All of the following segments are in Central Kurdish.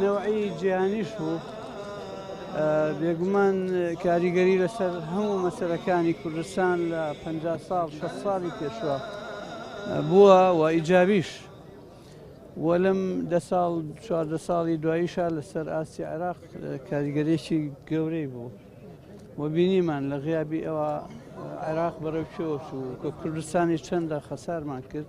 نەوعی جیهانیش بوو بێگومان کاریگەری لەسەر هەموو مەسەرەکانی کوردستان لە پ ساڵ شە ساڵی پێشوە بووە و ئیجابیش وەلم دە ساڵ چواردە ساڵی دواییشە لەسەر ئاستی عێراق کاریگەرێکی گەورەی بوو و بینیمان لە غیابی ئەوە عێراق بەرەو چۆش و کە کوردستانی چەندە خەسارمان کرد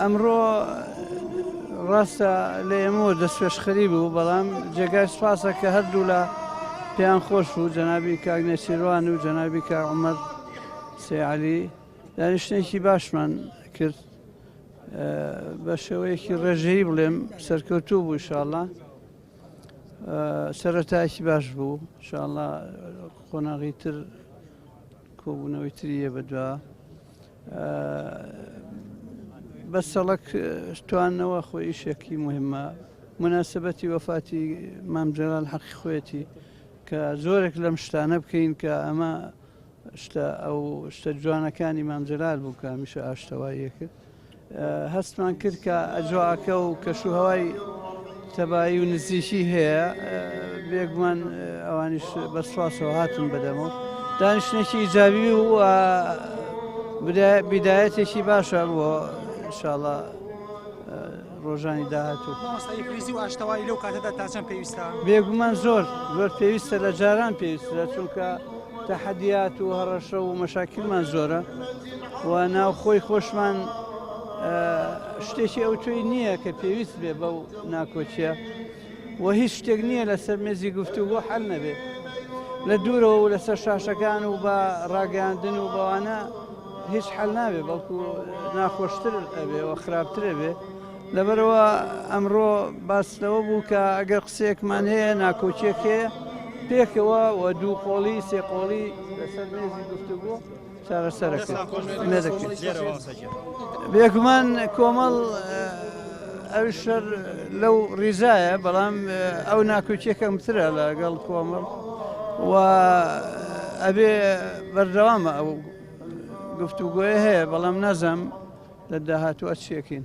ئەمڕۆ ڕاستە لە ئێمەوە دەستپێشخەری بوو بەڵام جێگای سوپاسە کە هەردوولا پێیان خۆش بوو جەنابی کاک نێچیروان و جەنابی کاک عومەر سێعەلی دانیشتێکی باشمان کرد بە شێوەیەکی ڕێژەیی بڵێم سەرکەوتوو بوو شاءڵە سەرەتایکی باش بوو شاءڵە قۆناغی تر کۆبوونەوەی تریە بەدووە بەس سەڵک توانەوە خۆ ئیشێکی مهمە مناسبەتی وەفاتی مام جەلال حەقی خۆێتی کە زۆرێک لەم شتانە بکەین کە ئەمە شتە ئەو شتە جوانەکانی مام جەلال بوو کە هەمیشە ئاشتەواییە کرد هەستمان کرد کە ئەجواکە و کەشوهوای تەبایی و نزیکی هەیە بێگومان ئەوانیش بە سواسەوە هاتن بەدەمەوە دانیشتێکی ئیجابی و بدایەتێکی باشە بۆ شاڵە ڕۆژانی داهاتوو ئاشتەوای لەو کاتەدا تاچەند پێویستە بێگومان زۆر زۆر پێویستە لە جاران پێویستە چونکە تەحەدیات و هەڕەشە و مەشاکیلمان زۆرە و ناوخۆی خۆشمان شتێکی ئەو توی نییە کە پێویست بێ بەو ناکۆچیە و هیچ شتێک نییە لەسەر مێزی گفتو بۆ حل نەبێت لە دوورەوە و لەسەر شاشەکان و بە ڕاگەاندن و بەوانە هیچ حل ناوێ بەڵکو ناخۆشتر ئەبێ و خراپترە بێ لەبەرەوە ئەمڕۆ باس لەوە بوو کە ئەگەر قسێکمان هەیە ناکۆچێکێ پێکەوە و دوو قۆڵی سێ قۆڵی لەسەر مێزی گفتوگۆ بێگومان کۆمەڵ ئەوی شەر لەو ڕیزایە بەڵام ئەو ناکۆکیەکەم ترە لەگەڵ کۆمەڵ و ئەبێ بەردەوامە ئەو گفتوگۆی هەیە بەڵام نازەم لە داهاتوە چیەکەین.